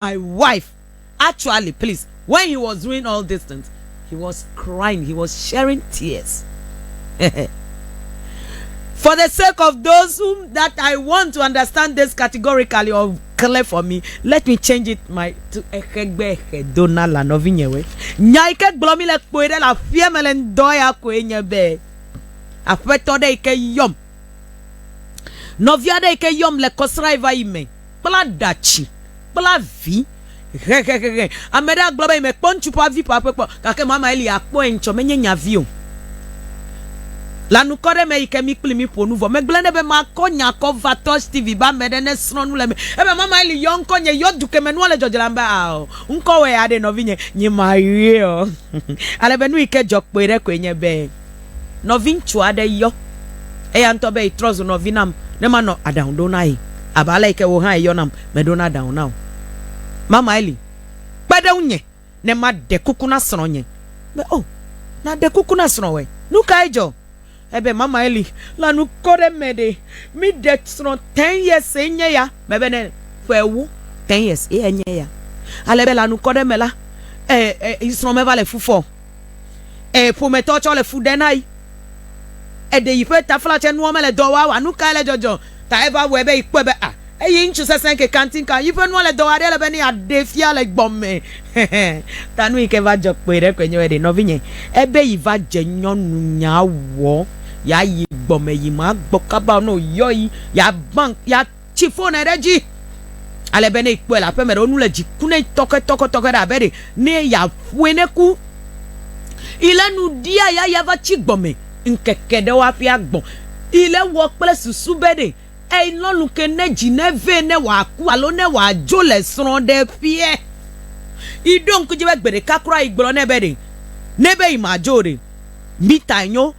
My wife actually please when he was doing all these things he was crying he was sharing tears for the sake of those whom that I want to understand this categorically or clear for me let me change it my to exegbe exe dona la nɔvinyewe nya yi ke gblɔ mi le kpoe ɖe le aƒea me le ŋdɔ ya koe nye be aƒetɔ ɖe yi ke yɔm nɔvia ɖe yi ke yɔm le kɔsra yi va yi me kpla ɖa tsi, kpla vi hehehehe. Ame ɖe agblɔ be yi me kpɔ ŋutsu ƒe avi ƒe aƒe kpɔ, gake mama Eli akpɔe ŋtsɔ, menye nye avi o. Le anukɔ ɖe me yi ke mi kpli mi ƒonu vɔ, megblɔe nɛ be makɔ nye akɔ va tɔ Stevie be ame ɖe ne srɔ̃ nu le eme. Ebe mama Eli yɔ ŋkɔ nye, yɔ dukeme nua le dzɔdzɔ la me be ao, ŋkɔwɔe aɖe nɔvinye, nye Marie ɔ. Ale be nu yi ke dzɔ kpɔe ɖe koe nye be. nɔviŋutsu aɖe yɔ eya ŋutɔ be trɔ zu nɔvi nam ne manɔ aɖaŋu ɖo na ye abe ale yi ke wò hã èyɔ nam meɖona aɖaŋu na wò. Mama Eli, kpe ɖe ŋunye ne maɖe kuku na srɔ̃nye. Be, O, nàɖe kuku na srɔ̃wòe. Nu kae dzɔ? Ebe, Mama Eli, le anu kɔ ɖe eme ɖe, míɖe srɔ̃ ten years ye nye ya. Mebe nɛ, Ƒe ewo ten years ye enye ya. Ale be le anu kɔ ɖe eme la, e, e, srɔ̃ meva le fu fɔ o. Ee, ƒometɔ tsɔ le fu ɖe na yi. Eɖe yi ƒe taflatse nua mele dɔ wa o. A Nu kae le dzɔdzɔ ta eva wɔe be yi kpɔe be a eyi ŋutsu sesẽ ke kanti ka yi ƒe nua le dɔ wa ɖe ele be ne yeaɖee fia le gbɔ me? Ta nu yi ke va dzɔ kpɔe ɖe koe nye be ɖe nɔvinye ebe yi va dze nyɔnu nyaa wɔ ya yi gbɔ me yi ma gbɔ kaba o. Ne woyɔ yi ya bank ya. tsi ƒonɛ ɖe edzi ale be ne ekpɔe le aƒeme ɖe wonu le dzi ku ne tɔke tɔke tɔke ɖe abe ɖe ne yaƒoe ne ku ile nu ɖia ya ya va tsi gbɔme ŋkeke ɖe waƒe agbɔ ile wɔ kple susu be ɖe elɔlu ke ne dzi ne vɛ ne wòaku alo ne wòadzo le srɔ̃ ɖe ƒeɛ iɖo ŋkudzi be gbe ɖeka kura igblɔ nɛ be ɖe ne be yi madzo ɖe mita nyo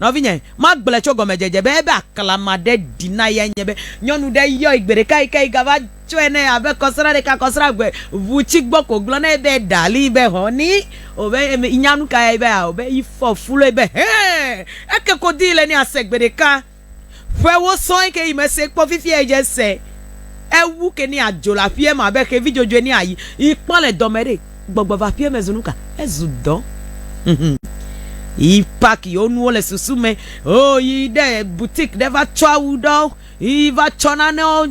Nɔvinye, magblɔe tso gɔmedzedze be ebe aklama ɖe ɖi na ye nye be nyɔnu ɖe yɔe gbe ɖeka yike yi gava tsɔe nɛ abe kɔsra ɖeka kɔsra eve ŋu tsi gbɔ ko gblɔ nɛ be darling be honey o be eme inya nuka ya yi be ao be ifɔ fuloe be hee eke ko dii le nɛ ase gbe ɖeka ƒewo sɔe ke yi mese kpɔ fifia yi dze se ewu ke nɛ adzo le aƒiɛ me abe xevi dzodzoe nɛ ayi yi kpɔ le dɔme ɖe. gbɔgbɔ va ƒie me zu nuka? Ezu dɔ. Yi pack yewo nuwo le susu me. Oh, yi ɖe boutique ɖe va tsɔ awu ɖewo. Yi va tsɔ nanewo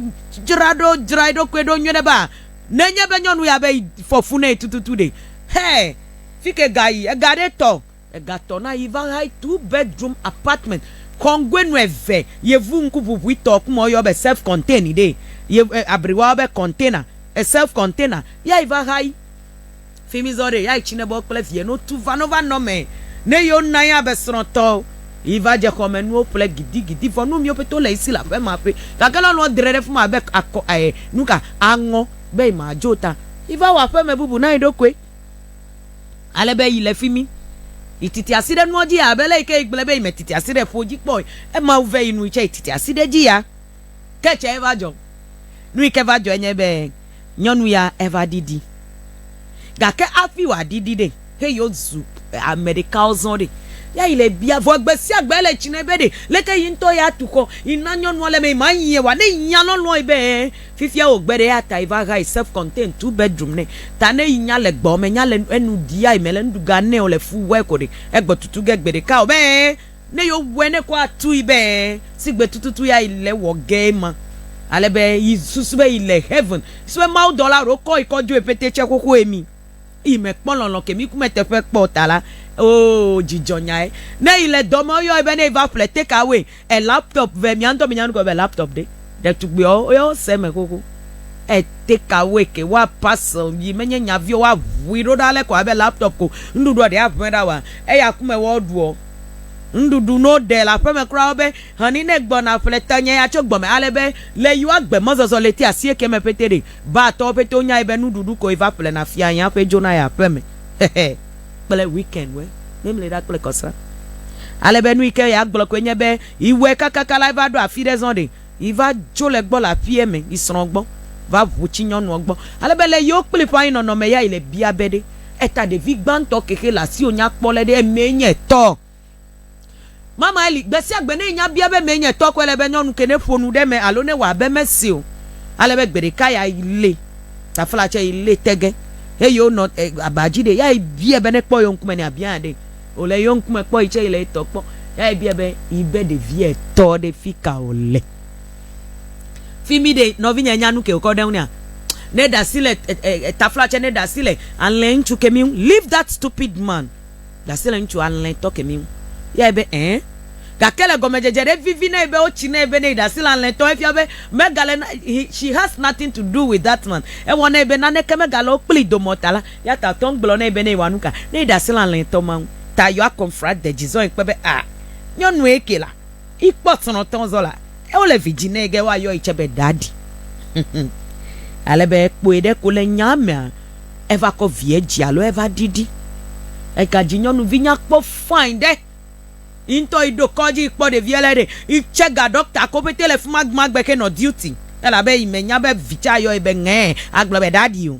dzra ɖo, dzra eɖokui ɖo nyuie ɖe be a, ne enye be nyɔnu ya be yi fɔ fu nɛ tututu ɖe? Hɛ! Fike ga yi? Ega ɖe tɔ. Ega tɔ na yi va hai two bedroom apartment kɔngoe nu eve yevu ŋku ʋuʋui tɔ ku mɔ yɔ be self contained ɖee ye abri wa be container e self container ya yi va hai fimi zɔ ɖee ya yi tsine bɔ kple vie no tu va no va nɔ me ne yo na ya be srɔ̃ tɔ yi va dze xɔme nuwo ƒle gidi gidi vɔ nu miwo pete wo le yi si le aƒe ma ƒe gake lɔ lɔ dre ɖe fima abe akɔ e nuka aŋɔ be yi ma dzo ta yi va wɔ aƒe me bubu na yi ɖokoe Ale be yi le fi mi. Yi titi asi ɖe nua dzi abe le yi ke gblẽ be yi me titi asi ɖe ƒo dzi kpɔ. Ema wu vɛ yi nu yi tse yi titi asi ɖe dzi ya. Ke tse eva dzɔ. Nu yi ke va dzɔe nye be nyɔnu ya eva ɖiɖi. Gake afi wa ɖiɖi ɖe he yi wo zu ame ɖeka wo zɔn ɖe. Ya yi le bia vɔ gbe sia gbe ele tsi nɛ be ɖe leke yi ŋutɔ ya tu xɔ yi na nyɔnua le me yi ma yi ye wa. Ne yi ya lɔlɔe be Fifia wo gbe ɖe eya tae va hae self contain two bedroom nɛ ta ne yi nya le gbɔme nya le enu ɖiae mele nuɖuga nɛ o le fu wɛ koɖe egbɔ tutu ge gbe ɖeka o be ne yo wɛ ne kɔ atui be sigbe tututu ya yi le wɔ ge ma ale be yi susu be yi le heaven susu be mawu dɔla ɖo kɔ yi kɔ dzoe pete tse xoxo emi yi me kpɔ lɔlɔ ke mi kume teƒe kpɔ ta la oo dzi dzɔ nyae ne yi le dɔme oyɔe be ne yi va ƒle take away. E laptop vɛ mia ŋtɔ mi nya nugɔ be laptop ɖe ɖetugbui ɔ wo ya wo se eme xoxo e take away ke wa parcel yi me nye nya viɔ wa ʋui ɖo ɖa le kɔ abe laptop ko ŋɖuɖuɔ ɖe a ʋɛ ɖa wa eya ku me wɔ ɖuɔ ŋɖuɖu no ɖe le aƒeme kura wo be hɛni ne gbɔ na ƒle te nye ya tso gbɔme ale be le yi wa gbe me zɔzɔ leti asie ke me pɛtɛ ɖe ba tɔwo pɛtɛ wo nya yi be nuɖuɖu ko yi va ƒle na fia yi aƒe dzo na yi aƒeme xexe. kple weekend we mimli ɖa kple kɔsra. Ale be nuyi ke yeagblɔ koe nye be yewɔe kakaka la eva ɖo afi ɖe zɔn ɖe yeva dzo le gbɔ le aƒea me yi srɔ̃ gbɔ va ʋu tsi nyɔnua gbɔ. Ale be le yewo kpli ƒa yi nɔnɔme ya yi le bia be ɖe eta ɖevi gbãtɔ kexe le asiwo nya kpɔ le ɖe emee nye tɔ. Mama Eli, gbesiagbe ne nya bia be mee nye tɔ ko ele be nyɔnu ke neƒo nu ɖe eme alo newɔ abe eme si o. Ale be gbeɖeka ya yi lée, tafla tsɛ yi lée tege heyi wonɔ aba dzi ɖe. Ya yi biae be nekpɔ yewo ŋkume ne abia ya ɖe. Wòle yewo ŋkume kpɔ yi tsɛ yi le etɔ kpɔ. Ya yi biae be yi be ɖevia etɔ ɖe fika wòle. Fimi ɖe nɔvinye nya nu ke wòkɔ ɖe ŋu nɛa? Ne ɖe asi le tafla tsɛ ne ɖe asi le alẽŋtsu kemi ŋu. Leave that stupid man. Ɖase le ŋutsu alẽtɔ kemi ŋu. Eyae be, Ẽ. Gake le gɔmedzedze ɖe vivi nɛ be wotsi nɛ be ne yi ɖase le alẽtɔ efia be megale na, he, she has nothing to do with that man. Ewɔ nɛ be naneke megale wo kplii dome o ta la, eyata wòte ŋu gblɔ nɛ be ne yewɔa nuka ne yi ɖase le alẽtɔ ma ŋu ta yewoa confront the Jizɔe kpe be, Ah, nyɔnue ke la. Yi kpɔ srɔ̃ tɔn zɔ la, eo le vi dzi nɛ ge wa yɔyi tse be Daddy. Ale be kpɔe ɖe ko le nya mea, eva kɔ vie dzi alo eva ɖiɖi. Ega dzi nyɔnuvi nyakpɔ fine ɖe. Yi ŋtɔ yi ɖo kɔdzi yi kpɔ ɖevia le ɖe. Yi tse ga ɖɔkta ko pete le fima gbɔa gbe xe nɔ duty. Elabe yi me nya be vi tse ayɔyi be ŋɛɛ agblɔ be Daddy o.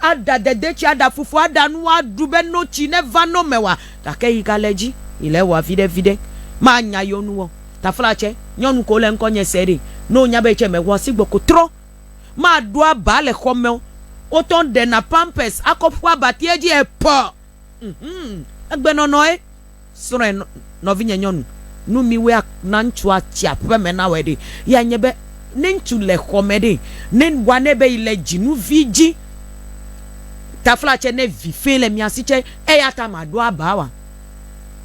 Aɖa dedetsi, aɖa fufu, aɖa nu aɖu be no tsi neva no mɛwa, gake yi gale dzi, yi le ewa viɖe viɖe. Ma nya yo nu ɔ, tafla tsɛ, nyɔnu ko le ŋkɔ nyɛ sɛ ɖee, no nya be etsɛ mɛwa si gbɔ ko trɔ. Ma ɖo aba le xɔ mɛɔ, wo tɔ ŋɖe na pampers akɔ ƒu abatiɛ dzi ɛ pɔ. Ŋhum, egbe nɔnɔ ɛ. Srɔ̃e, nɔvinye nyɔnu, nu miwɔe na ŋutsua tsi aƒe me nawɔe ɖe, ye nye be, ne ŋutsu le xɔ me ɖe, ne ŋua nɛ be yi le dzinu vi dzi, tafla tse ne vi fɛ le mia si tse, eya ta ma ɖo aba wa?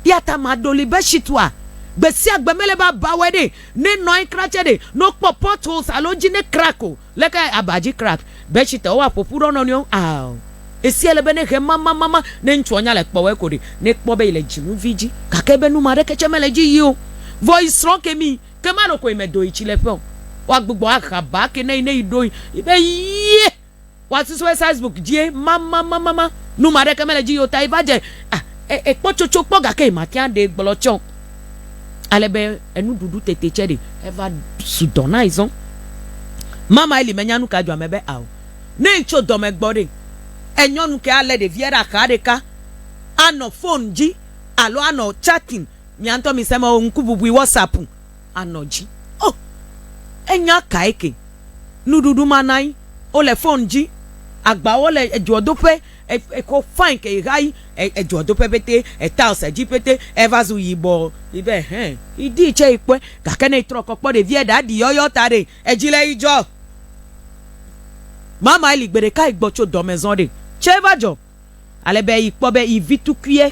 Eya ta ma ɖoli be shit wa? Gbe sia gbe mele be aba wɔe ɖe, ne nɔ anyi kra tse ɖe, ne wokpɔ pot holes alo edzi ne crack o, Leke aba dzi krak be tsi te woa ƒo ƒu ɖe wo nɔnɔewo ŋu ao? Esia le be ne ʋe mamamama ne ŋutsua nya le kpɔwɔe ko ɖe, ne ekpɔ be yi le dzinu vi dzi gake be numa ɖeke tse mele dzi yi o, vɔ yi srɔ̃ ke mi ke malo koe me do yi tsi le ƒe o, woa gbugbɔ ahe aba ke ne yi ne yi ɖo yi be yie wa susu be sasbook dzie mamamamama numa ɖeke mele dzi yi o ta yi va dze ah ekpɔ tsotso kpɔ gake yi mate ŋu aɖee gblɔ tse o. ale be enuɖuɖu tete tsɛ ɖe eva su dɔ na ezɔ. Mama Eli menya nu ka dzɔ ame be ao. Ne etso dɔme gbɔ ɖe, enyɔnu ke alé ɖevia ɖe axa ɖeka anɔ fon dzi alo anɔ chatting, mia ŋutɔ mise me o, ŋkububui WhatsApp anɔ dzi. Oh! Enya kae ke? Nuɖuɖu ma nai, wole fon dzi, agbawo le edzoɔdoƒe, Exɔ fain ke ɣeaɣi edzɔ do ƒe pɛtɛ etiles edzi pɛtɛ eva zu yibɔ yi be hɛ yi di tse yi kpɔe gake ne yi trɔ kɔ kpɔ ɖevia ɖa ɖi yɔyɔ ta ɖe edzi le yi dzɔ mama eli gbeɖeka yi gbɔ tso dɔme zɔ ɖe tse va dzɔ ale be yi kpɔ be yi vi tukuiɛ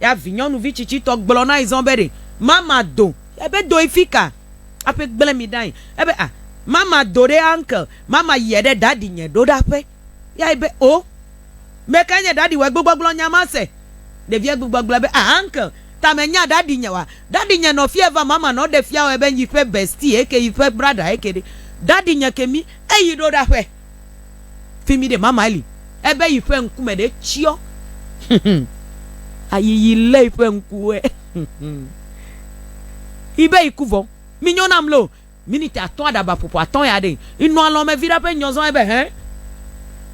Ya vinyɔnuvi tsitsitɔ gblɔ na yi zɔn be ɖe mama do. Ya be doe fika? Aƒe gblẽ mi ɖa yi. Ya be ah mama do ɖe uncle mama yie ɖe daddy nye ɖo ɖa ƒe. Ya yi be oh mekae nye daddy wɔ egbe gbɔgblɔ nya ma se? Ɖevia gbe gbɔgblɔ be ah uncle ta me nya daddy nye wa. Daddy nye nɔ fia va mama nɔ ɖe fia wɔe be yi ƒe bestie eke yi ƒe brother eke ɖe daddy nye ke mi eyi ɖo ɖa ƒe. Fi mi ɖe mama eli. Ebe yi ƒe ŋkume ɖe tsyɔ. Ayiyi lé yi ƒe ŋkuwe. Ibe yi ku vɔ. Mi nyɔ nam lo. Miniti atɔ̃ aɖaba ƒoƒo atɔ̃ ya ɖe. Inɔ alɔn me viɖa ƒe nyɔ zɔn ebe hɛn.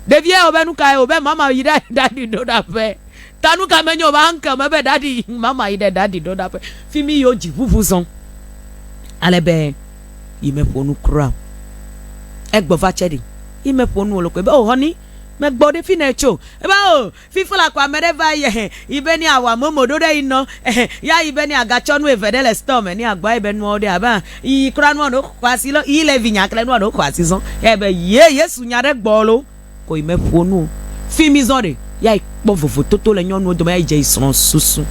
Ɖevia ebe nukae obe mama yi ɖa ɖa ɖi ɖo ɖa ƒe. Ta nu ka menyo va ŋke me be ɖaɖi yi mama yi ɖe ɖaɖi ɖoɖaƒe fi mi yo dzi ʋuʋu zɔn ale be yi me ƒonu kura o. Egbɔ va tse ɖi yi me ƒonu o lokoe be o hɔni me gbɔ ɖe fi ne tso ebe o fi fla ko ame ɖe va yi ehe yi be ne a wa momo ɖo ɖe yi nɔ ehe ya yi be ne a ga tsɔ nu eve ɖe le store me ne a gbɔ yi be nuawo ɖe a be yi yi kura nua ɖo xɔ asi lɔ yi le vi nya kle nua ɖo xɔ asi zɔn ya yi be yee yesu nya ɖe gbɔ lo. kɔ yi meƒo nu o. Fi mi zɔ ɖe, ya yi kpɔ vovototo le nyɔnuwo dome ya yi dze yi srɔ̃ susu.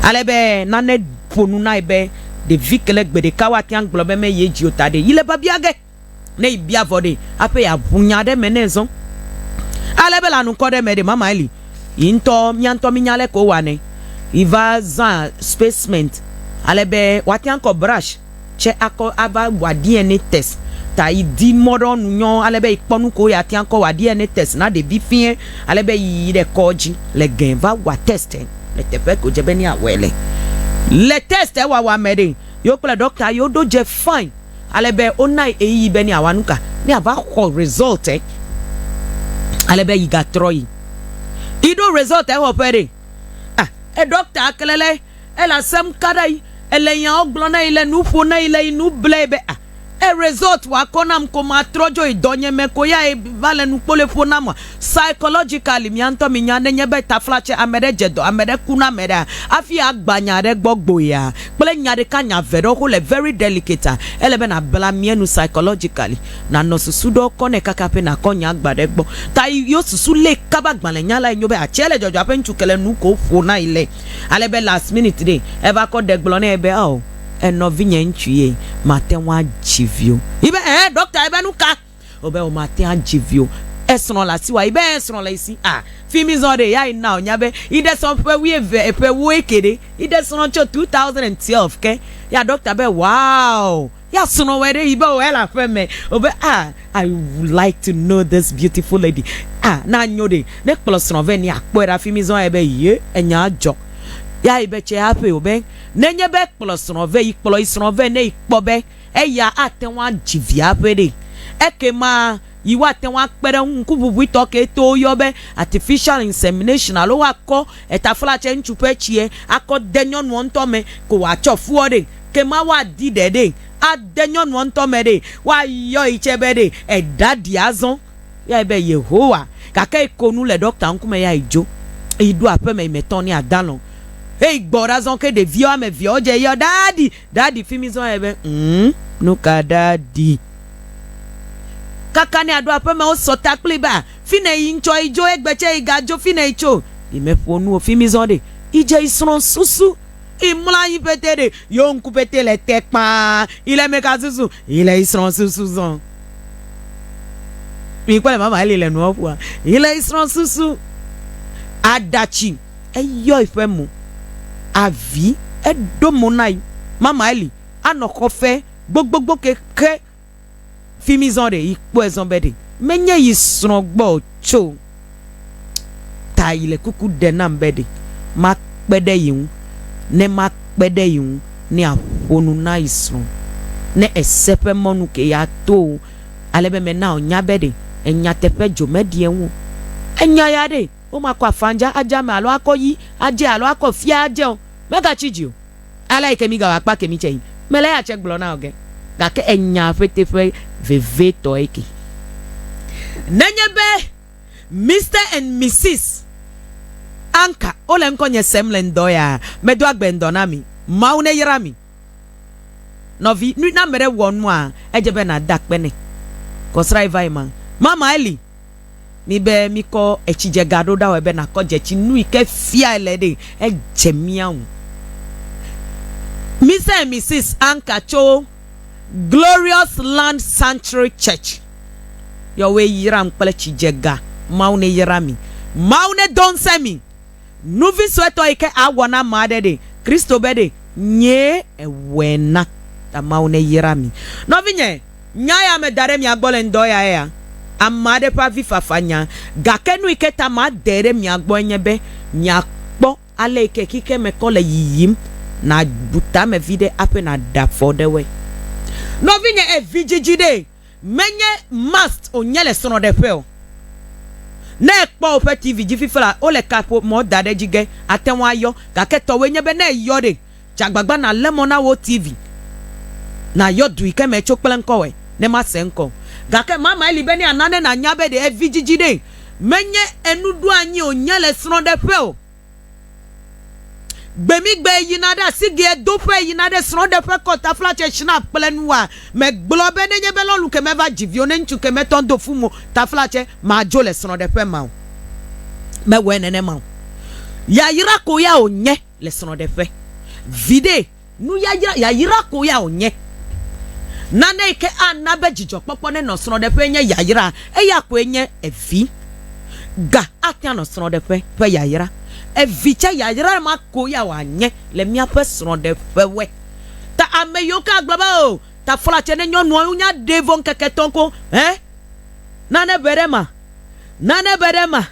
Ale be nane ƒo nu na yi be ɖevi ke le gbe ɖeka wo ate ŋu agblɔ be me ye dzi o ta ɖe yi le biabia ge. Ne yi bia vɔ ɖe aƒe ya ŋu nya ɖe me nɛ zɔ̃. Ale be le anukɔ ɖe me ɖe mama eli yi ŋutɔ mía ŋutɔ mi nya le ke wo wa nɛ. Yi va zã spacement ale be woate ŋu akɔ brush. tsɛ akɔ ava wa DNA test ta yi di mɔ ɖewo nu nyɔ ale be yi kpɔ nu kewo ya tia kɔ wa DNA test na ɖevi fiɛ ale be yi yi ɖe kɔdzi le gɛ va wa test le teƒe ko dze be ne ya wɔɛ le. Le test wawa me ɖe, yewo kple ɖɔkta yewo ɖo dze fine ale be wo na yi ɣeyiɣi be ne ya wa nuka? Ne ya va xɔ result ɛ ale be yi ga trɔ yi. Yi ɖo result ɛ xɔ ƒe ɖe, ah eɖɔkta kle le. Ele asem ka ɖa yi ele nyawo gblɔ na yi le nu ƒo na yi le yi nu ble yi be a e result wa kɔ nam ko ma trɔ dzo yi dɔ nye me ko ya e va le nu kpole ƒo nam wa. Psychologically mia ŋutɔ mi nya ne nye be taflatse ame ɖe dze dɔ ame ɖe ku na ame ɖea afi a gba nya ɖe gbɔ gbo ya kple nya ɖeka nya ve ɖewo xo le very delicate a ele be na bla mia nu psychologically na nɔ susu ɖewo kɔ nɛ kaka ƒe na kɔ nya gba ɖe gbɔ ta yi yo susu le kaba gbalẽ nya la yi nyo be a tse le dzɔdzɔ aƒe ŋutsu ke le nu ko ƒo na yi le Ale be last minute ɖe eva kɔ ɖe gblɔ nɛ be ao enɔvinye ŋutsu ye mate ŋu adzi vi o. Yi be ɛɛ ɖɔkta yi be nuka? O be o mate adzi vi o. Esrɔ̃ le asiwò a? Yi be ɛɛ srɔ̃ le yi si a. Fi mi zɔ ɖe ya yi na wònya be yi ɖe srɔ̃ ƒe wuieve ƒe wuieke ɖe yi ɖe srɔ̃ tso 2012 ke. Ya ɖɔkta be wow. Ya srɔ̃ wɔe ɖe yi be wɔe le aƒe me. O be ah, I would like to know this beautiful lady. Ah, na nyo ɖe. Ne kplɔ srɔ̃ vɛ ni akpɔe ɖe afi mi zɔn ebe ye enya dzɔ. Ya yi be tse haƒe o be ne nye be kplɔ srɔ̃ vɛ yi kplɔ yi srɔ̃ vɛ ne yi kpɔ be eya ate ŋu adzi vi haƒe ɖe. Eke ma yi wa te ŋu akpe ɖe ŋu ŋkuʋuʋuitɔ ke to wo yɔ be artificial insemination alo wa kɔ etafla tse ŋutsu ƒe tsie akɔ de nyɔnuɔ ŋutɔ me ko wa tsɔ fuɔ ɖe. ke ma woadi ɖe ɖe ade nyɔnua ŋutɔ me ɖe, woayɔ yi tsɛ be ɖe eɖaɖi azɔ. Yɔe be Yehowa. Gake yi ko nu le ɖɔkta ŋkume ya yi dzo. Yi ɖo aƒeme yi me tɔ ne adalɔ̃. Eyi gbɔ ɖa zɔn ke ɖevi woame eveawo dze yɔ ɖaɖi, ɖaɖi fi mi zɔn yɔe be ŋm, nuka ɖaɖi. Kaka ne aɖo aƒeme wo sɔ ta kpli be a, fine yi ŋtsɔ yi dzo egbe tsɛ yi ga dzo fine yi tso. Yi me ƒo nu o fi mi zɔn ɖe yi dze yi srɔ̃ susu. Yi mlɔ anyi pɛtɛ ɖe yewo ŋku pɛtɛ le te kpaa yi le meka susu yi le yi srɔ̃ susu zɔn. Mi kpɔ le mama eli le nua ƒua yi le yi srɔ̃ susu. Aɖatsi eyɔ yi ƒe mo avi eɖo mo na yi mama eli anɔ xɔ fe gbogbogbo ke xe fimi zɔn ɖe yi kpɔɛ zɔn be ɖe me nye yi srɔn gbɔ tso ta yi le kuku ɖe nam be ɖe ma kpe ɖe yi ŋu ne ma kpe ɖe yi ŋu ne a ƒonu na yi srɔn ne ese ƒe mɔnu ke ya to o ale be me na o nya be ɖe enya teƒe dzo me ɖi eŋu o enya ya ɖe o ma kɔ afanja adja me alo akɔ yi adje alo akɔ fia adje o me ga tsi dzi o. Alai ke migawɔ akpa kemi tse yi. Mele eya tse gblɔ na o ge, gake enya ƒete ƒe vevitɔe ke. Nenye be Mister and Misis Anka wole ŋkɔnye sem le ŋdɔ ya, medo agbe ŋdɔ na mi. Mawu neyra mi. Nɔvi, nu, ne ame ɖe wɔ nua, edze be nàda akpe nɛ. Kɔsrã yi va yi ma. Mama Eli. mi be mikɔ etsidzega ɖo ɖawɔe be nàkɔ dzetsi nu yi ke fiae le ɖe edze mía ŋu. Mister and Misis Anka tso Glorious Land Sanctuary Church yɔwoe yram kple tsidzega. Mawu neyra mi. Mawu nedo ŋusẽ mi. Nuvi suetɔ yi ke awɔ na ame aɖe ɖe, Kristo be ɖe nyee ewɔe na. Ta Mawu neyra mi. Nɔvinye. Nya ya meda ɖe mia gbɔ le ŋdɔ ya ea? Ame aɖe ƒe avifafa nya. Gake nu yi ke ta madae ɖe mia gbɔe nye be miakpɔ ale yi ke xexea me kɔ le yiyim, nàbu tame viɖe hafi nàɖe afɔ ɖe woe. Nɔvinye, èvi dzidzi ɖee. Menye must wònye le srɔ̃ɖeƒe o. Ne èkpɔ woƒe TV dzi fifia la, wole kaƒomɔ da ɖe edzi ge, ate ŋu ayɔ. Gake tɔwòe nye be ne eyɔ ɖe, Dze agbagba nàlé mɔ na wò TV nàyɔ dui ke me tso kple ŋkɔwɔe ne mase ŋkɔ o. Gake mamae li be ne àna ne nànya be ɖe vidzidzi ɖee menye enuɖoanyi o nye le srɔ̃ɖeƒe o. Gbemigbe yina ɖe asigea do ƒe yina ɖe srɔ̃ɖeƒe kɔ taflatse Schnapp kple nuwoa me gblɔ be nenye be lɔlu ke meva dzi viwo ne ŋutsu ke metɔ do fu mo taflatse madzo le srɔ̃ɖeƒe ma o. Mewɔe nenema o. Yayra ko ya wònye. le srɔ̃ɖeƒe. Viɖe, nu yayra yayra ko ya wònye. Nane yi ke ana be dzidzɔkpɔkpɔ nenɔ srɔ̃ɖeƒee nye yayra, eya koe nye evi. Ga ate ŋu anɔ srɔ̃ɖeƒe ƒe yayra. Evi tsɛ yayra ma ko ya wòanye le míaƒe srɔ̃ɖeƒewoe. Ta ame yiwo ke agblɔ be oo taflatsɛ ne nyɔnua wo nya ɖee vɔ ŋkeke etɔ̃ ko, hɛ, nane be ɖe ma, nane be ɖe ma.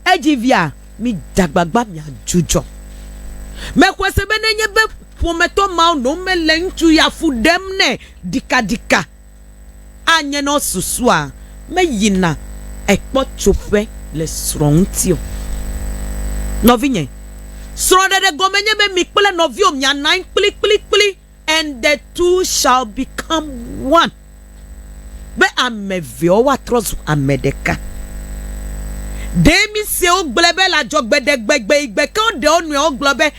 Edzi via, mide agbagba miadzudzɔ. Mexɔe se be nenye be ƒometɔ mawo nɔ eme le ŋutsu ya fu ɖem nɛ ɖikaɖika, anye ne wosusua meyina ekpɔtsoƒe le srɔ̃ ŋuti o. Nɔvinye, srɔ̃ɖeɖe gɔme nye be mi kple nɔviwò mianɔ anyi kplikplikpli. And the two shall become one, be ame eveawo woatrɔ zu ame ɖeka. Ɖe míse wogblɔe be le adzɔgbeɖegbegbeyigbe ke woɖe wo nɔewo gblɔ be,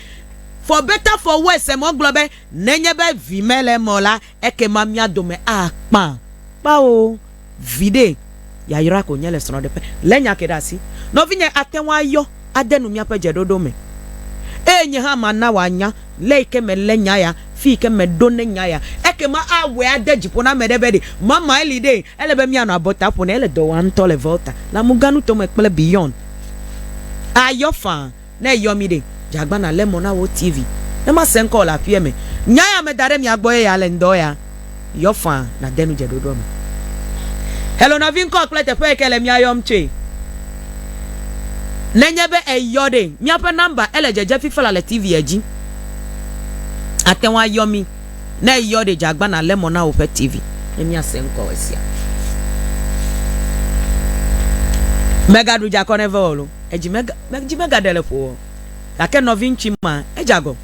For better for worse, eme wogblɔ be, Nenye be Vi mele eme o la, ekema mía dome akpã. Kpao. Viɖe yayra ko nye le srɔ̃ɖeƒe. Lé nya ke ɖe asi. Nɔvinye ate ŋu ayɔ ade nu míaƒe dzeɖoɖo me, eye nye hã mana wòanya le yi ke melé nya ya, fi yi ke meɖo ne nya ya. Ekema awɔe ade dzi ƒo na ame ɖe be ɖe mamae li ɖe ele be míanɔ abɔta ƒo nɛ. Ele dɔ wɔm ŋutɔ le Volta, Lamuganuto me kple beyond. Ayɔ faa. Ne eyɔ mi ɖe, dze agbana le mɔ na wò TV. Ne ma se ŋkɔ wò le aƒea me. Nya ya me da ɖe mia gbɔ ye ya le ŋdɔ ya yɔ faa na de nu dze ɖoɖoa me. Hello nɔvi ŋkɔ kple teƒe yike le mia yɔm tsoe. Ne nye be eyɔ ɖe, mia ƒe number ele dzedze fifala le TV ya dzi. Ate ŋu ayɔ mi. Ne eyɔ ɖe, dze agbana le mɔ na wò ƒe TV ne mia se ŋkɔ wɔ sia. Mega ɖu dze akɔ ne ve wɔ lo. edzi mega, dzi megaɖe le ƒo o. Gake nɔviŋtsui ma, edze agɔ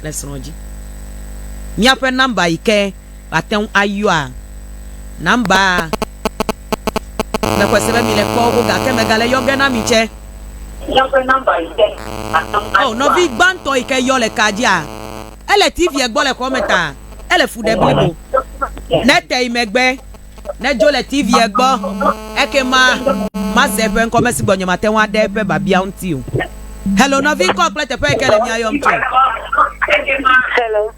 le srɔ̃ dzi. Míaƒe nɔmba yi ke woate ŋu ayɔa, nɔmba mexɔe se be mile kpɔ go gake megale yɔ ge na mi tsɛ. Míaƒe nɔmba yi ke woate ŋu ayɔa. O, nɔvi gbãtɔ yi ke yɔ le kaa dzia, ele TV-a gbɔ le xɔa me ta ele fu ɖe blibo. Ne ete yi megbe. Nedzo le TV-a gbɔ, ekema mase eƒe ŋkɔ, ame si gbɔ nyemate ŋu aɖe eƒe biabia ŋuti o. Hello, nɔvi, ŋkɔ kple teƒe yi ke le mía yɔm tsoe. Hello.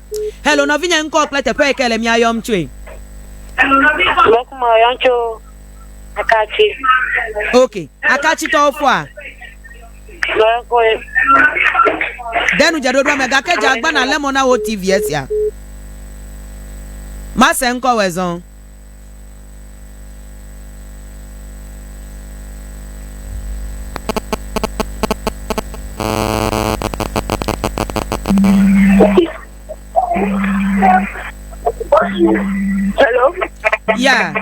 Hello, nɔvinye, ŋkɔ kple teƒe yi ke le mía yɔm tsoe. Mekuma yɔm tso Akatsi. Ok, Akatsitɔwo fɔa? De nu dze ɖoɖoa me gake dze agba nàlé mɔ na wò TV esia. Mase ŋkɔwɔe zɔ. Hello. Yeah.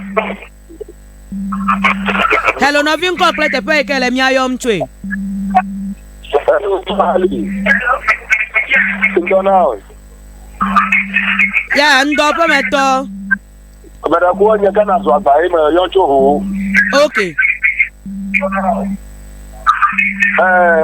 Hello, nɔvi ŋkɔ kple teƒe yi ke le mía yɔm tsoe. Ya, ŋdɔ ƒe metɔ. Ameɖekua nye Ghana zɔ agba ye me yɔ tso ho. Ok. Ɛɛ.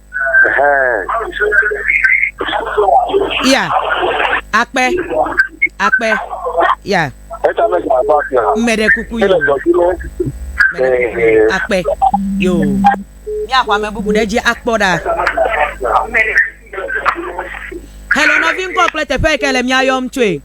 ya akpe akpe ya mmeɖe kuku yo akpe yo míaxɔ ame bubu ɖe dzi akpɔ ɖa hello nɔvi ŋkɔ kple teƒe yi ke le míayɔm tsoe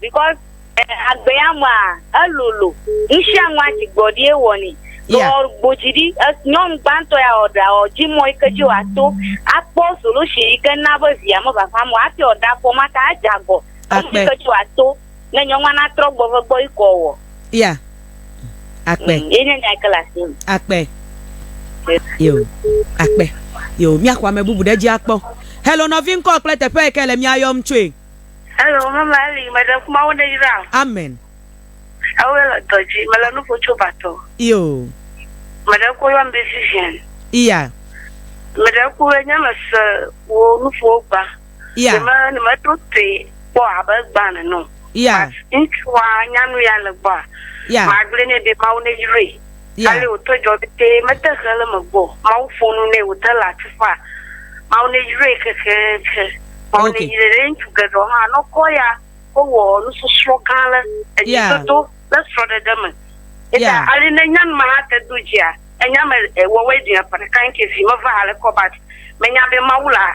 because eh, agbe ya mea elolo nusianua dzigbɔɖi ye wɔni Yeah. yeah. gbodzi ɖi eh, nyɔnu gbãtɔ ya ɔɖa ɔdzi mɔ yi ke dzi wòato akpɔ solution yi ke na be via mevafa mɔ hafi ɔɖa fɔ ma ta adze agɔ Emɔ Akpe. yi ke dzi wòato ne nyɔnua natrɔ gbɔ ve gbɔ yi kɔ wɔ ya akpe Mm, ye nye nya yi ke le asi me. akpe yo akpe yo míaxɔ ame bubu ɖe edzi akpɔ helo nɔvi ŋkɔ kple teƒe yi ke le mía yɔm tsoe Hello, mama Eli, meɖe ŋu Mawu neyra wò. Amen. Ewoe le dɔ dzi, mele nu ƒo tso batɔ. Io. Meɖe ku yɔm be Vivian. Iya. Meɖe ku enye me se wo nuƒowo gba. Iya. Nime nime to te kpɔ abe gba neno. Iya. Ŋutsua nya nu ya le gbɔa. Iya. Magblɔ ne be Mawu neyrae. Ya. Ale wòte dzɔ vevie, mete he le eme gbɔ. Mawu ƒo nu nɛ wòte le atsuƒa. Mawu neyrae kekeake. Mawu Ok. neyrae. Ɖe ŋutsu geɖewo hã ne wokpɔ eya, wowɔ nusɔsrɔ̃ gã le Ya. edzododo kple srɔ̃ɖeɖe me. Eya ta Ya. ale ne nya nu ma hã te do dzia, enya me e, wɔwɔe ɖi ƒe ɖeka ŋkee vi meva ale kɔ bat menya be Mawu laa.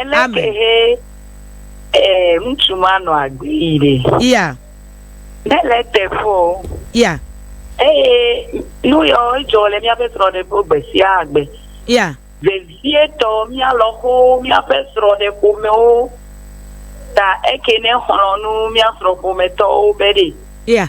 Ele Amen. ke he eh, ŋutsu ma nɔ agbee ɖe. Iya, Mele eteƒe o. iya, Eye nu yawo dzɔ le míaƒe srɔ̃ɖeƒe gbe sia gbe. iya, Vevietɔ mía lɔ̃xowo, míaƒe srɔ̃ɖeƒomewo ta eke ne xlɔ̃ nu mía srɔ̃ƒometɔwo be ɖe. iya.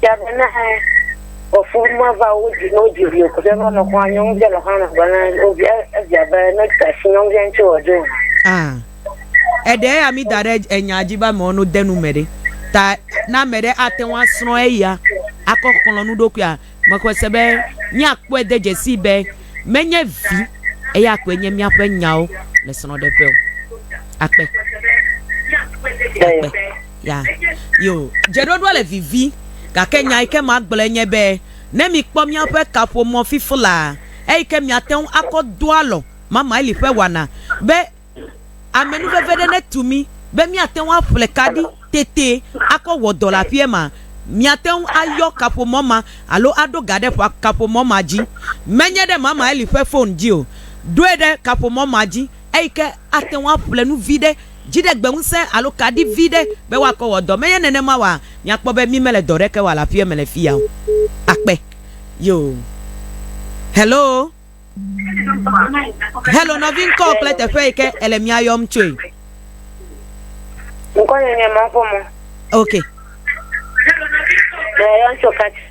Tiabe na ɔfu ma va wo dzi no dzi vi ko va no kwa nyong je lo hana bana o vi e via be no ta si nyong je nti o jo. Ah. Eɖe ya mi da ɖe enya dzi ba mɔ no de nu me ɖe. Ta na me ɖe ate ŋu asrɔ̃ eya akɔ xlɔ̃ nu ɖokuia mexɔe se be míakpɔe de dzesi be menye vi eya koe nye míaƒe nyawo le srɔ̃ɖeƒe o. Akpe. Akpe. Ya, yo, dzeɖoɖoa le vivi, gake nya yi ke magblɔe nye be, ne mikpɔ míaƒe kaƒomɔ fifi la, eyi ke miate ŋu akɔ do alɔ Mamaili ƒe wɔna be amenuveve ɖe netu mí be míate ŋu aƒle ka ɖi tete akɔ wɔ dɔ le aƒea mea, miate ŋu ayɔ kaƒomɔ ma alo aɖo ga ɖe kaƒomɔ ma dzi. Menye ɖe Mamaili ƒe fon dzi o. Ɖoe ɖe kaƒomɔ ma dzi. eyi ke ate ŋu aƒle nu vi ɖe, dziɖegbeŋusẽ alo kaɖi vi ɖe be woakɔ wɔ dɔ. Menye nenema oa? Miakpɔ be mi mele dɔ ɖeke wɔ le aƒea me le fiya o. Akpe. Yoo. Hello. Hello, nɔvi ŋkɔ kple teƒe yi ke ele mia yɔm tsoe. Ŋkɔ nye nye Maƒomɔ. Ok. Mia yɔm tso Kati.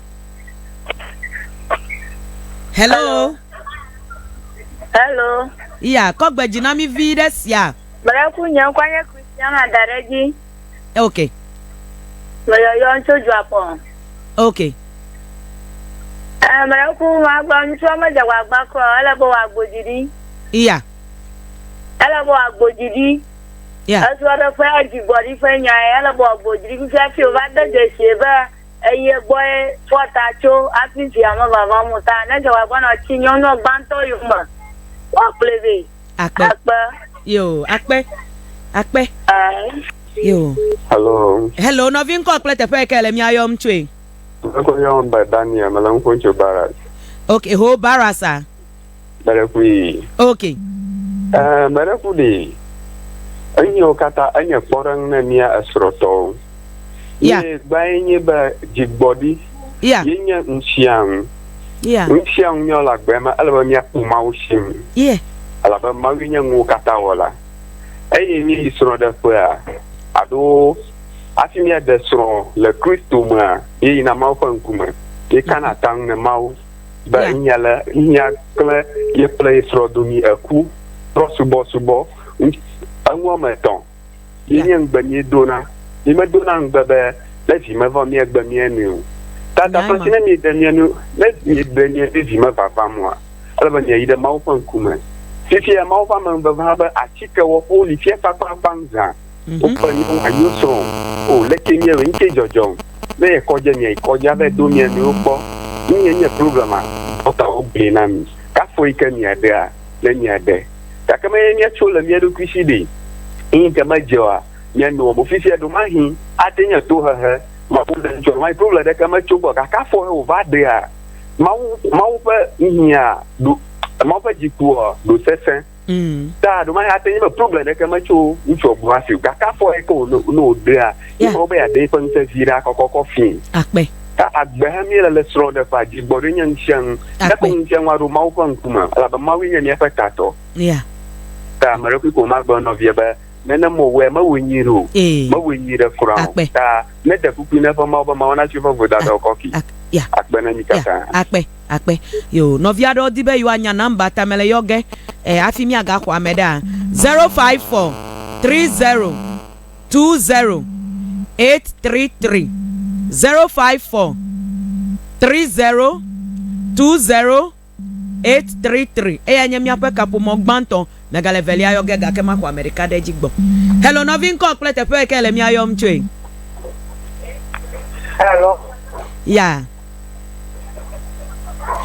Hello. Hello. Iya, kɔ gbe dzi na mi vi ɖe sia. Beleku nye ŋkɔ nye Christiana da ɖe dzi. Ok. Meyɔyɔ tso Dzuakpɔ. Ok. Eh, Beleku magblɔ ŋutsua medze wòagba kura o, ele be wòagbo dzi ɖi. Iya. Ele be wòagbo dzi ɖi. Iya. Esrɔ̃ɖeƒea dzigbɔɖiƒe nyae, ele be wòagbo dzi ɖi. Fifia fi wòva de dzesi be eye gbɔe fɔ ta tso hafi via me vava mo ta ne dzɔgba gbɔnɔ tsi nyɔnua gbãtɔ yome woakplɔe vɛ. Akpe. Akpe. Yo, akpe. Akpe. Uh. Yo. Hello. Hello, nɔvi ŋkɔ kple teƒe ke le mia yɔm tsoe. Mekɔ yɔm be Daniel, mele ŋkɔ tso Barras. Okay, ho Barras a. Meɖekui. Ok. Ɛɛ, meɖeku ɖi. Eyiwo katã enye kpɔɖeŋu ne mía esrɔ̃tɔwo. Ya. Ye gbãe nye be dzigbɔɖi. Ya. Ye nye ŋusiaŋu. Ya. Ŋusiaŋu míawo le agbe me, ele be míaku Mawu si ŋu. Ye. Elabe Mawue nye nuwo katã wɔla. Eye míeyi srɔ̃ɖeƒea, aɖo hafi míaɖe srɔ̃ le Kristo mea, míeyina Mawu ƒe ŋkume. Míekana ta ŋu ne Mawu. be yeah. nya le nya kple ye kple ye srɔ̃ domi eku kple subɔsubɔ eŋu wɔme etɔ̃ ye nye ŋugbe mi dona mi me dona ŋugbe be ne vi me vɔ mi egbe mi enu o tata fasi ne mi de mi enu ne mi de mi enu vi me vava mua ele be mi yi ɖe mawu ƒe ŋkume fifia mawu ƒe ame vava be atike wɔƒewo li fia kpakpakpa ŋzã Wo ƒe nyɔnua yo srɔ̃ o. O leke mía me ŋkee dzɔdzɔm be ye kɔdze mia yi kɔdze ave do mia nɔewo kpɔ. Nu ye nye problem a? Dɔkta wo gblɔe na mi. Kafo yi ke mia ɖea, ne mia ɖe. Gake me ye mia tso le mia ɖokui si ɖe. Eyi ke me dze oa, mia nɔa mo fifia ɖomahi a te nye to hehe. Mawu le ŋutsua nɔa yi problem ɖe ke me tso gbɔ. Gake afɔ he wo va ɖea. Mawu, Mawu ƒe nuhia ɖo, Mawu ƒe dzikua ɖo sese. ta ɖo ma ya te nye problem ɖeke me tso ŋutsu ɔgbɔ asi o gake afɔ yɛ ke wòno ne wòɖea Yeah. yekɔ be yeaɖe eƒe ŋusẽ vi ɖa kɔkɔkɔ fii Akpe. ta agbe he míele le srɔ̃ɖeƒea dzi gbɔɖoe nye ŋusiaŋu Akpe. eƒe ŋusiaŋu aɖo mawu ƒe ŋkume elabe mawue nye míaƒe tatɔ Ya. ta ame ɖe koe ko magblɔ nɔvia be nene mewɔe mewɔe nyui ɖe o Ee. mewɔe nyui ɖe kura o Akpe. ta ne ɖe kpukpui ne eƒe mawu be mawu natsi eƒe vodadawo kɔfi Ak- Ya. akpe na mí Ya. katã Akpe. akpe yo nɔvi aɖewo di be yewoanya nɔmba ta mele yɔ ge e hafi míagaxɔ ame ɖea zero five four tri zero tu zero eit tri tri zero five four tri zero tu zero eit tri tri eyae nye míaƒe kaƒomɔ gbãtɔ. Megale evelia yɔ ge gake maxɔ ame ɖeka ɖe edzi gbɔ. Hello nɔvi ŋkɔ kple teƒe ke le mía yɔm tsoe. Hello. Ya.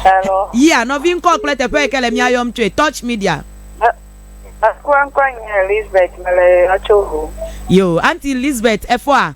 Hello. Ya nɔvi ŋkɔ kple teƒe ke le mía yɔm tsoe. Touch media. Ŋkɔ ŋkɔ nye Lisbeth mele yɔ tso ho. Yo anti Lisbeth efɔa.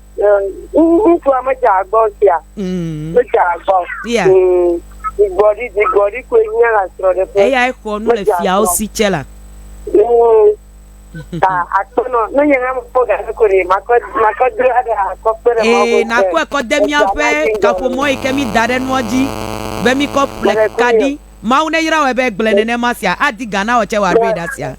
ŋutsua medze agbɔ sia mm. medze agbɔ dzigbɔɖi mm. dzigbɔɖi koe nye la srɔ̃ɖeƒe eyae xɔ nu le fiawo si tsɛ la mm. ta akpɔnɔ ne nye hã mekpɔ gaɖe ko ɖe makɔ makɔ do aɖe akɔ kpe ɖe mɔ ee nakɔ ekɔ de míaƒe kaƒomɔ yi ke mi da ɖe nua dzi be mi kɔ ƒle kaɖi mawu ne yra wɔ be gblẽ nenema sia adi gana wɔ tsɛ wɔ aɖo yi ɖa sia.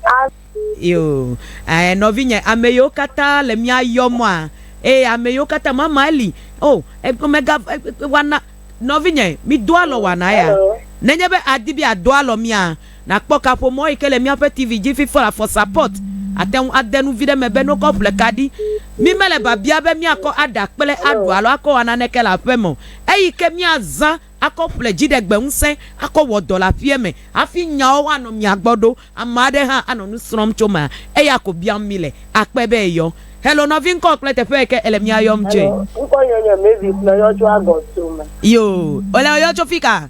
Yo, ɛɛ, nɔvinye, ame yiwo katã le mía yɔmɔa, eye ame yiwo katã mama eli. O, eg, mega, eg, eg, wana, nɔvinye, mi do alɔ wana ya. Hello. Nenye be àdi be àdo alɔ mía, nàkpɔ kaƒomɔ yi ke le míaƒe TV dzi fi for, for support. Àte ŋu ade nu vi ɖe me be nokɔ ƒle ka ɖi. Mi mele babia be míakɔ aɖa kple aɖu alo akɔ wɔ naneke le aƒeme o. Eyi ke míazã. akɔ ƒle dziɖegbeŋusẽ akɔ wɔ dɔ le aƒea me hafi nyawo woanɔ mia gbɔ ɖo. Ame aɖe hã anɔ nu srɔ̃m tso mea, eya ko biam mi le. Akpɔe be eyɔ. Hello nɔvi ŋkɔ kple teƒe yike ele mía yɔm tsoe. Hello, ŋkɔ nye nye Mavis me yɔ tso agɔto me. Yoo, wole ɔ yɔ tso fika?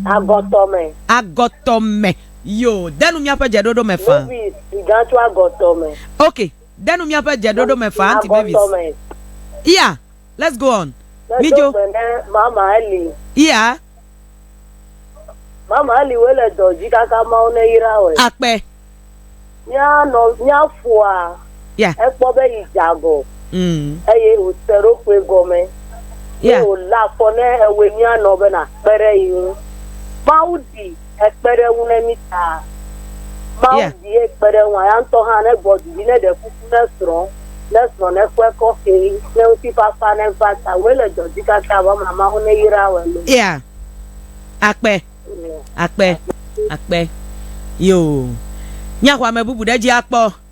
Agɔtɔ me. Agɔtɔ me, yoo, de nu míaƒe dze ɖoɖo me faa. Mavis sigã tso agɔtɔ me. Ok, de nu míaƒe dze ɖoɖo me faa aunty Mavis. Agɔtɔ me. Yea. Let's go on. Medo Midzo. gbe ne mama Eli. Iya. Mama Eli woe le dɔ dzi kaka Mawu neyra wɔe. Akpe. Mía nɔ mía foa Ya. ekpɔ be yi dze agɔ Mm. eye wòse eɖokui gɔme Ya. eye wòlé afɔ ne ewoe mía nɔ be nàkpe ɖe yi ŋu. Mawu ɖi ekpe ɖe eŋu ne mí ta. Mawu yeah. di ekpe ɖe eŋu, ya ŋutɔ hã ne gbɔ didi ne ɖe kuku ne srɔ̃, ne srɔ̃ ne kpɔe kɔfe, ne ŋutifafa ne va ta, wòe le dɔ dzi kaka vɔ ma Mawu ne yra wɔ lo. Yeah. Akpe. Akpe. Akpe. Yo. Míaxɔ ame bubu ɖe dzi akpɔ.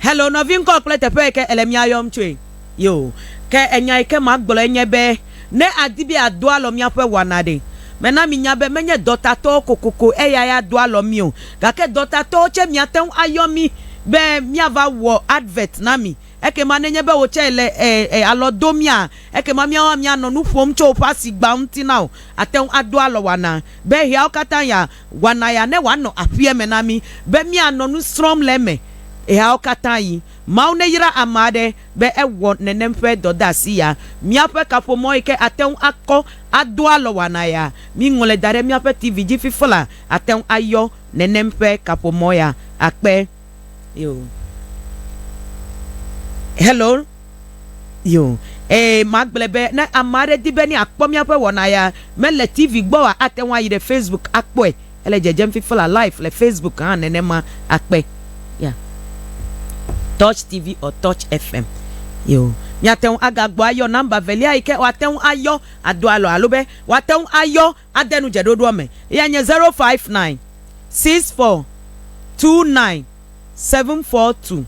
Hello nɔvi ŋkɔ kple teƒe yi ke ele mía yɔm tsoe. Yo. Ke enya yi ke magblɔe nye be ne àdi be àdo alɔ míaƒe wɔna ɖe, mena minya be menye dɔtatɔwo kokoko eyae ado alɔ mí o, gake dɔtatɔwo tsɛ miate ŋu ayɔ mí be míava wɔ advert na mi. Ekema nenye be wò tsɛ èle e, e, alɔ dom mía, ekema míawo hã míanɔ nu ƒom tso woƒe asigba ŋuti na wò. Àte ŋu ado alɔ wɔnaa. Be ɣeawo katã ya, Wɔna ya ne wòanɔ aƒea me na mí be míanɔ nu srɔ̃m le eme ɣeawo katã ɣi. Mawu neyra ame aɖe be ewɔ nenem ƒe dɔdeasi ya. Míaƒe kaƒomɔ yi ke ate ŋu akɔ ado alɔ wɔna ya, míŋlɔe da ɖe míaƒe TV dzi fiflaa, ate ŋu ayɔ nenem ƒe kaƒomɔ ya akpe. yo hello yo ee magblɔe be ne ame aɖe di be ne akpɔ míaƒe wɔna ya mele tv gbɔ wa ate ŋu ayi ɖe facebook akpɔe ele dzedzem fifla live le facebook hã nenema akpe ya touch tv or touch fm yo míate ŋu agagbɔ ayɔ namba velia yi ke woate ŋu ayɔ ado alɔ alo be woate ŋu ayɔ Ade nu dzeɖoɖoa me. Eyae nye zero five nine six four two nine seven four two,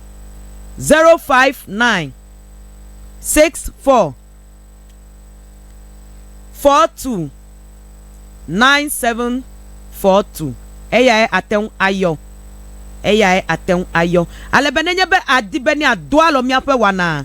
zero five nine six four four two nine seven four two. Eyae ate ŋu ayɔ. Eyae ate ŋu ayɔ. Ale be nenye be àdi be ne àdo alɔ míaƒe wɔnaa,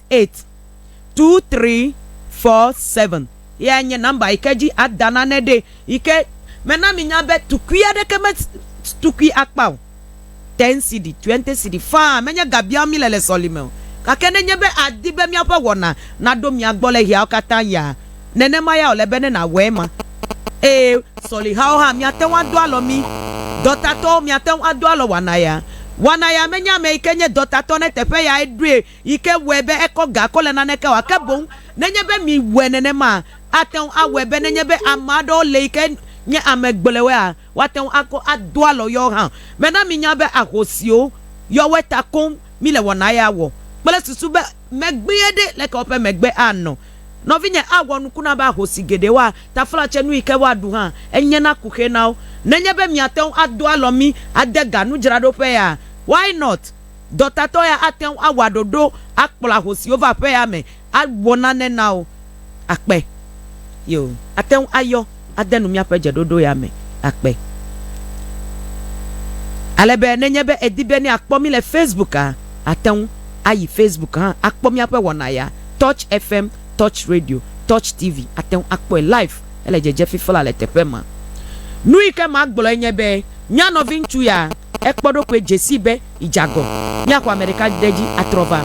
eight two three four seven yae nye nɔmba yi ke dzi ada nane ɖi yi ke mena minya be tukui aɖeke me tukui akpa o. Ten cedi, twenty cedi faa menye ga biam míle le sɔlime o. Gake nenye be àdi be míaƒe wɔna naɖo mia gbɔ le ɣeawo katã ɣia, nenema ya wòle be ne nàwɔe ema. Eye sɔlihawo hã, miate ŋu ado alɔ mí. Dɔtatɔwo, miate ŋu ado alɔ wɔna ya. Wɔna ya menye ame yi ke nye dɔtatɔ ɖe teƒe yae ɖoe. yi ke wɔe be ekɔ ga kɔ le naneke o, ake boŋ nenye be miwɔe nenema, ate ŋu awɔe be nenye be ame aɖewo le yi ke nye ame gblɔewoea, woate ŋu akɔ ado alɔ yewo hã. Mena minya be ahosiwo, yewoe ta koŋ mile wɔna ya wɔ kple susu be megbee ɖe, leke woƒe megbe anɔ. Nɔvinye, awɔ nuku na be ahosi geɖewoa, taflatsenu yi ke woaɖu hã, enye na kuxi na wo. Nenye be miate ŋu ado alɔ mí ade ga nudzraɖoƒea? Why not? Dɔtatɔ ya ate ŋu awɔ aɖoɖo akplɔ ahosiwo va aƒea me awɔ nane na wo. Akpe. Yoo, ate ŋu ayɔ ade nu míaƒe dzeɖoɖo ya me. Akpe. Ale be nenye be èdi be ne yeakpɔ mí le Facebooka, àte ŋu ayi Facebook hã akpɔ míaƒe wɔna ya. Touch FM, Touch Radio, Touch TV, àte ŋu akpɔe live hele dzedze fifla le teƒe ma. Nu yi ke magblɔe nye be, Nya nɔviŋutsu ya. Ekpɔ eɖokui dze sii be yedze agɔ. Míaxɔ ame ɖeka ɖe edzi atrɔ va.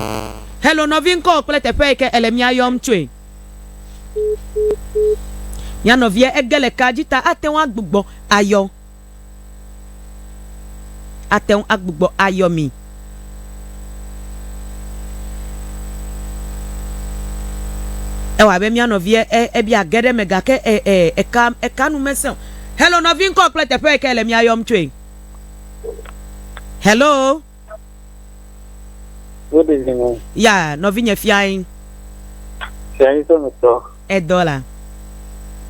Hello nɔvi ŋkɔwò kple teƒe yi ke èle mía yɔm tsoe. Mía nɔvia ege le kaa dzi ta ate ŋu agbugbɔ ayɔ. Ate ŋu agbugbɔ ayɔ mi. Ewɔ abe mía nɔvia e, ebia ge ɖe eme gake e, e, eka, eka nu mesẽ o. Hello nɔvi ŋkɔwò kple teƒe yi ke èle mía yɔm tsoe. hello Good evening. ya nɔvinye fiae Fia yi sɔmi tɔ. edɔ la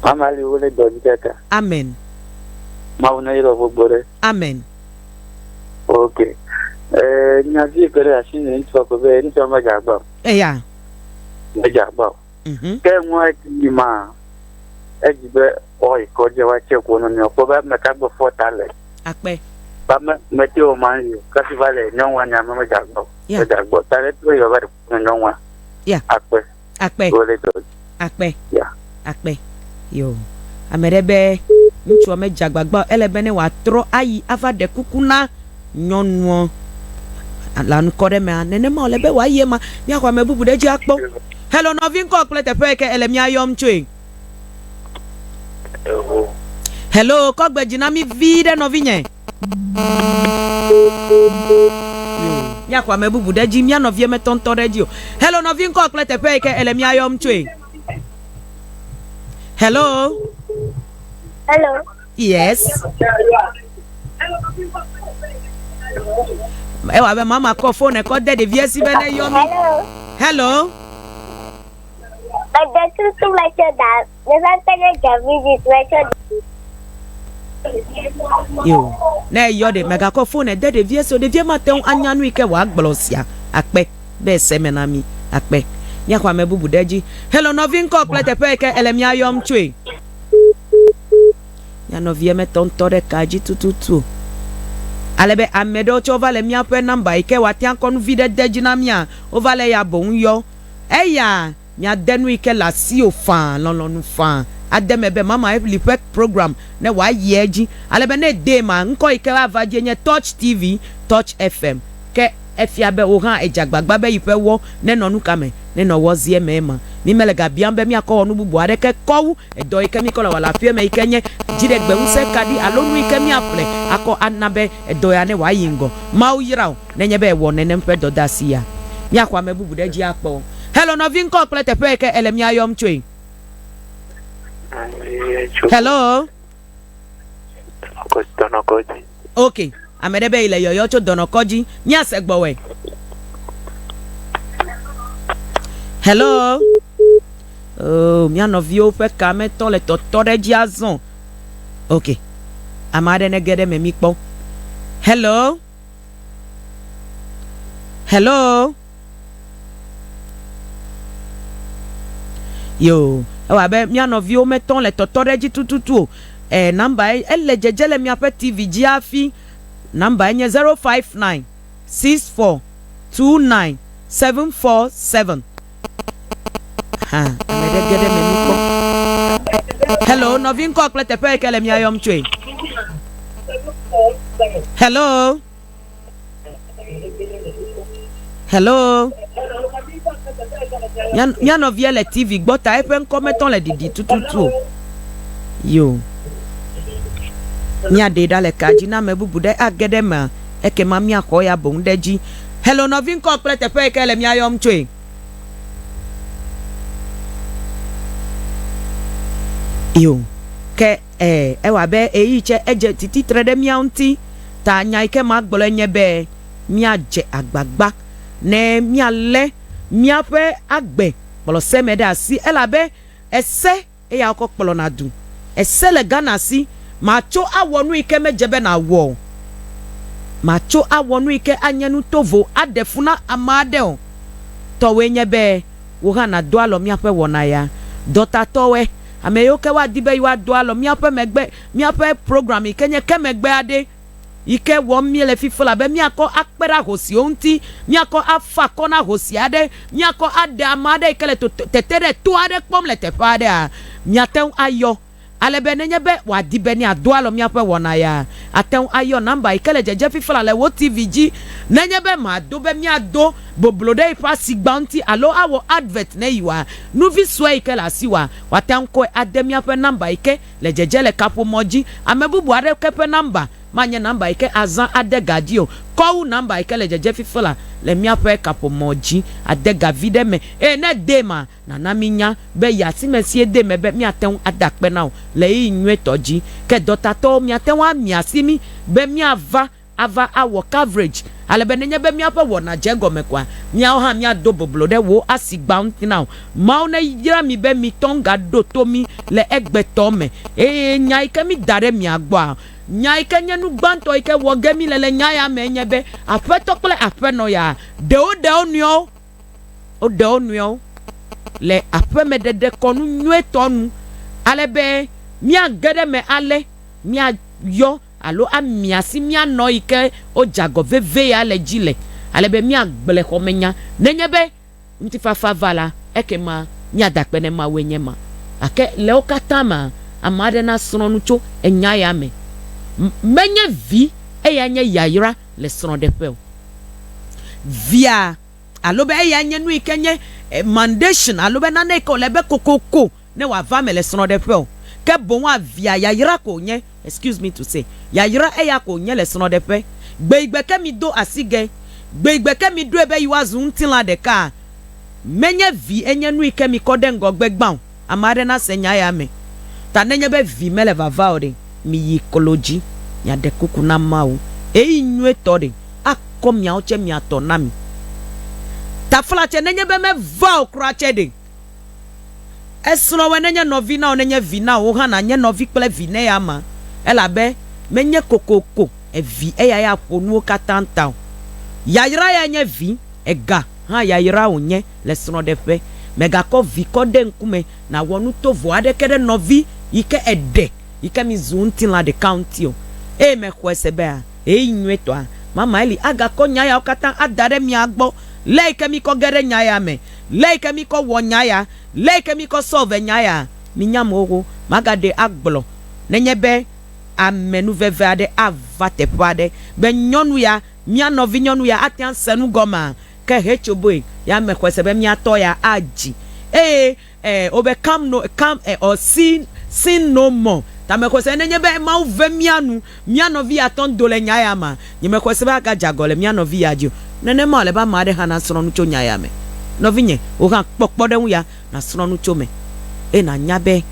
Mama li wole dɔ di kaka. amen Mawu ne yɔrɔ gbogbo ɖe. amen Ok. Eh, nyavi ke ɖe asi ne ŋutsu akɔ be ŋutsu ma dze agba o. eya Medze agba o. Mhm. Ke nua ti yi ma edzi be ɔ yi kɔ dze wa tse ko no nyo ko ba me ka gbe fɔ ta le. Akpe. Ba me me te o ma yi ka si va le nyo wa nya me me ja gbo. Yeah. Me ja gbo ta le to yo ba de ko nyo wa. Yeah. Akpe. Akpe. Ko le to. Akpe. Yeah. Akpe. Yo. Ame ɖe be ŋutsua me dze agbagba o, ele be ne wòatrɔ ayi ava ɖe kuku na nyɔnuɔ le anikɔɖemea, nenema wòle be wòayi ema. Míaxɔ ame bubu ɖe edzi akpɔ. Hello, nɔvi ŋkɔ kple teƒe yi ke èle mía yɔm tsoe. Hello, kɔ gbe dzi na mí viɖe nɔvinye. Míaxɔ ame bubu ɖe edzi, mía nɔvie metɔ ŋutɔ ɖe edzi o. Hello, nɔvi ŋkɔ kple teƒe yi ke èle mía yɔm tsoe. Hello. Hello. Yes. Ewa be mama kɔ fone kɔ de ɖevia si be ne yɔ mi. Hello. Mede tutu metsɔ da. Meva kpe ɖe Davidis metsɔ da. Yo. Ne yɔ ɖe megakɔ fone de ɖevia si o. Ɖevia mate ŋu anya nu yi ke wòagblɔ sia akpe be ese me na mi akpe. Míaxɔ ame bubu ɖe edzi. Hello nɔvi ŋkɔ kple teƒe yi ke ele mía yɔm tsoe. Mía nɔvia metɔ ŋutɔ ɖe kaa dzi tututu o. Ale be ame ɖewo tsɛ wova le míaƒe nɔmba yi ke woatea kɔ nu vi ɖe de dzi na mía, wova le eya boŋ yɔ. Eya miade nu yi ke le asiwò faa, lɔlɔ̃nu faa ade eme be Mama Evelyn ƒe program ne wòayi edzi. Ale be ne edee maa, ŋkɔ yi ke woava dzie nye Touch TV, Touch FM. Ke. Efia be wò hã èdze agbagba be yi ƒe wɔ nenɔ nu ka me? Nenɔ wɔ zi eme ema. Mí mele ga biam be míakɔ wɔ nu bubu aɖeke kɔ wu edɔ yi ke míkɔ le wɔ le aƒea me yi ke nye dziɖegbeŋusẽ kaɖi alo nu yi ke míaƒle akɔ ana be edɔ ya ne wòayi ŋgɔ. Mawu yra wò nenye be èwɔ nenem ƒe dɔdeasi ya. Míaxɔ ame bubu ɖe edzi akpɔ. Hello nɔvi ŋkɔ kple teƒe yi ke èle mía yɔm tsoe. Hello. Dɔnɔkɔdzi, dɔnɔkɔdzi. Ok, ame ɖe be yi le yɔyɔ tso dɔnɔkɔdzi. Míase gbɔwɔe. Hello. Oh, mía nɔviwo ƒe ka metɔ le tɔtɔ ɖe edzi azɔ. Ok, ame aɖe nege ɖe eme míkpɔ. Hello. Hello. Yoo, ewɔ abe mía nɔviwo metɔ le tɔtɔ ɖe edzi tututu o. Ɛɛ, nɔmbae, ele dzedze le miaƒe TV dzi hafi. Nɔmbae nye 0596429747. Hã, ame ɖe ge ɖe eme nu kpɔ. Hello, nɔvi ŋkɔ kple teƒe yi ke le mia yɔm tsoe. Hello. Hello. Mía nɔvia le TV gbɔ ta eƒe ŋkɔ metɔ le ɖiɖi tututu o. Yo. Míaɖee ɖa le ka dzi na ame bubu ɖe age ɖe emea ekema míaxɔ eya boŋ ɖe edzi. Hello nɔvi ŋkɔ kple teƒe yi ke le mía yɔm tsoe. Yo. Ke Ẽ, ewɔ abe ɣeyiɣi tsɛ edze tsi titre ɖe mía ŋuti ta. Nya yi ke magblɔe nye be míadze agbagba ne míalé míaƒe agbe kplɔ se me ɖe asi, elabe ese eya wokɔ kplɔna du. Ese le Ghana si. Màtso awɔ nu yi ke medze be nàwɔ o. Màtso awɔ nu yi ke anye nu tovo aɖe fu na ame aɖe o. Tɔwòe nye be wò hã nàdo alɔ míaƒe wɔna ya dɔtatɔe. Ame yiwo ke woadi be yewoado alɔ míaƒe megbe, míaƒe program yi ke nye ke megbe aɖee yi ke wɔm míele fi fla be míakɔ akpe ɖe ahosiwo ŋuti, míakɔ afa akɔ na ahosi aɖe, míakɔ aɖe ame aɖe yi ke le toto, tete ɖe to aɖe kpɔm le teƒe aɖea, miate ŋu ayɔ. Ale be nenye be wòadi be nèado alɔ míaƒe wɔna ya, àte ŋu ayɔ nɔmba yi ke le dzedze fi fla le wò TV dzi. Nenye be màdo be míado. boblo ɖe eƒe asigba ŋuti alo awɔ advert ne yewoa nuvi sue yi ke le asi wòa, woate ŋu kɔe ade míaƒe nɔmba yi ke le dzedze le kaƒomɔ dzi. Ame bubu aɖeke ƒe nɔmba manye nɔmba yi ke azã ade ga dzi o, kɔ wu nɔmba yi ke le dzedze fifi la le míaƒe kaƒomɔ dzi. Ade ga viɖe eme, eye ne èdee emea, nàna míanya be yi asi me si èdee eme be míate ŋu ada akpe na wò le ɣeyiɣi nyuitɔ dzi. Ke dɔtatɔwo, miate ŋu amia asi mí be míava ava awɔ coverage ale be nenye be míaƒe wɔna dze egɔme koa, míawo hã míado boblo ɖe wò asi gbãtɔ na wò. Mawu neyra mi be mitɔ ŋga ɖo to mí le egbetɔ me eye nya yi ke mída ɖe mia gbɔa, nya yi ke nye nu gbãtɔ yi ke wɔ ge míle le nya ya me enye be Aƒetɔ kple Aƒenɔ ya ɖe woɖe wo nɔewo, woɖe wo nɔewo le aƒeme ɖeɖekɔnu nyuitɔ nu ale be míage ɖe eme ale míayɔ. alo amia si míanɔ yi ke wodze agɔ vevie ale dzi le, ale be míagblẽ xɔmenya. Nenye be ŋutifafa va la, ekema míada akpe ne Mawue nye ema. Gake le wo katã mea, ame aɖe nasrɔ̃ nu tso enya ya me. Menye vi eyae nye yayra le srɔ̃ɖeƒe o. Via, alo be eyae nye nu yi ke nye mandation alo be nane yi ke wòle be kokoko. ne wòava eme le srɔ̃ɖeƒe o, ke boŋ avia yayra ko wònye, excuse me to say, yayra eya ko wònye le srɔ̃ɖeƒe. Gbeigbe ke mido asi ge, gbeigbe ke miɖoe be yewoazu ŋutilã ɖeka, menye vi enye nui ke mikɔ ɖe ŋgɔgbe gbã o. Ame aɖe nase nya ya me. Ta nenye be vi mele vava o ɖe, miyi klo dzi, miaɖe kuku na Mawu. Eyi nyuietɔ ɖe, akɔ miawo tsɛ mia tɔ na mi. Taflatse nenye be meva o kura tsɛ ɖe, Esrɔ̃wɔe nenye nɔvi na wò, nenye vi na wò hã nànye nɔvi kple vi na eya ma, elabe menye kokoko evi eya ya ƒo nuwo katã ta o. Yayra ya nye vi, ega hã yayra wònye le srɔ̃ɖeƒe. Mègakɔ vi kɔ ɖe ŋkume nàwɔ nu tovo aɖeke ɖe nɔvi yi ke èɖe yi ke mizu ŋutilã ɖeka ŋuti o, eye mèxɔe se bea, ɣeyiɣi nyuitɔa, mamae li. Agakɔ nya yawo katã ada ɖe mia gbɔ, lé yi ke mikɔ ge ɖe nya ya me. Leyike mikɔ wɔ nya ya, leyike mikɔ sɔ ve nya ya, minya mɔ wo maga ɖe agblɔ nenye be amenuveve aɖe ava teƒe aɖe be nyɔnu ya, mia nɔvi nyɔnu ya ate ŋu ase nu gɔmea, ke hetsoboe ya me xɔe se be mia tɔ ya adzi eye e o be come no come e or see sin no more ta me xɔe se nenye be Mawu ve mia nu. Mía nɔvi ya tɔ ŋdo le nya ya mea? Nyemexɔe se be agadze agɔ le mía nɔvi ya dzi o. Nenema wòle be ame aɖe hã nasrɔ̃ nu tso nya ya me. Nɔvinye, wò hã kpɔ kpɔɖeŋu ya nàsrɔ̃ nu tso eme, eye nànya be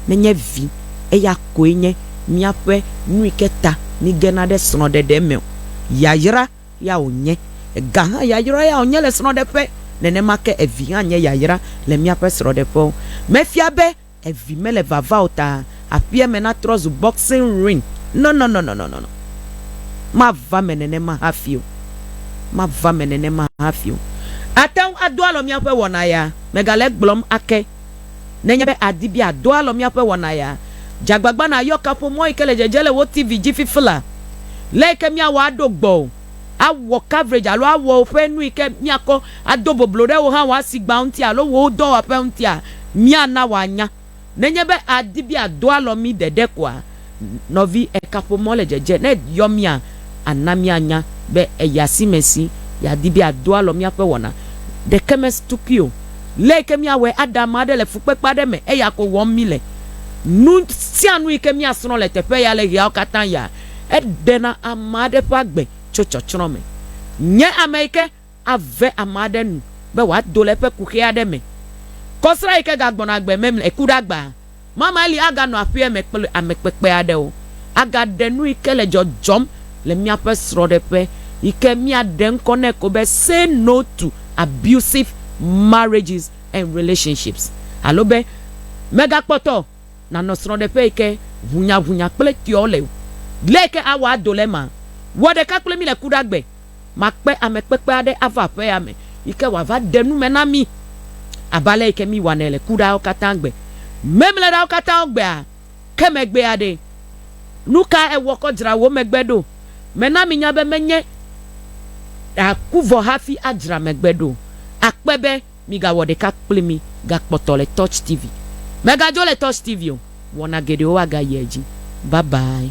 nenye vi eya koe nye míaƒe nu yi ke ta míegena ɖe srɔ̃ɖeɖe me o, yayra ya wònye. Gahã yayra ya wònye le srɔ̃ɖeƒe, nenema ke vi hã nye yayra le míaƒe srɔ̃ɖeƒewo. Mefia be Evi mele vava o ta aƒea me natrɔ zu boxing ring. Nɔnɔnɔnɔnɔnɔ. Mava eme nenema hafi o. Mava eme nenema hafi o. Àte ŋu ado alɔ míaƒe wɔna ya. Mègale egblɔm ake. Nenye be àdi be àdo alɔ míaƒe wɔna ya, dze agbagba nàyɔ kaƒomɔ yi ke le dzedze le wò TV dzi fifila. Lé yi ke míawɔ aɖo gbɔwò. awɔ coverage alo awɔ woƒe nu yi ke míakɔ ado boblo ɖe wò hã wò asigba ŋuti alo wò dɔwɔƒe ŋutia, míana wòanya. Nenye be àdi be àdo alɔ mí ɖeɖe koa, nɔvi, ekaƒomɔ le dzedze. Ne eyɔ mía, ana míanya be èyi asi me si yeadi be àdo alɔ míaƒe wɔna ɖeke me tukui o. Lé yi ke míawɔe aɖe ame aɖe le fukpekpe aɖe me eya ko wɔm míle. Nu sia nu yi ke míasrɔ̃ le teƒe ya le ɣeawo katã ya Eɖena ame aɖe ƒe agbe tso tsɔtsrɔ̃ me. Nye ame yi ke ave ame aɖe nu be wòado le eƒe kuxi aɖe me. Kɔsrã yi ke gagbɔna agbe mɛmlɛ, eku ɖe agba mamɛ li aganɔ aƒea me kple ame kpekpe aɖewo. Agaɖe nu yi ke le dzɔdzɔm le míaƒe srɔ̃ɖeƒe yi ke míaɖe ŋkɔ nɛ ko be Say No to Abusive Marriages and Relationships alo be Megakpɔtɔ Nànɔ srɔ̃ɖeƒe yi ke ʋunyaʋunya kple tɔewo le o. Ɣe yi ke awɔ ado le ema? Wɔ ɖeka kple mí le kuɖagbe. Makpe ame kpekpe aɖe ava aƒea me yi ke wòava ɖe nu me na mí abe ale yi ke míwɔnɛ le kuɖawo katã gbe. Memleɖawo katã gbea ke megbe aɖee. Nu kae èwɔ kɔ dzra wò megbe ɖo? Mena minya be menye ɖe àku vɔ hafi adzra megbe ɖo o. Akpe be Migawɔ ɖeka kpli mí gakpɔtɔ le Touch TV. Megadzo le Touch TV o, wɔna geɖewo agayi edzi. Bye bye.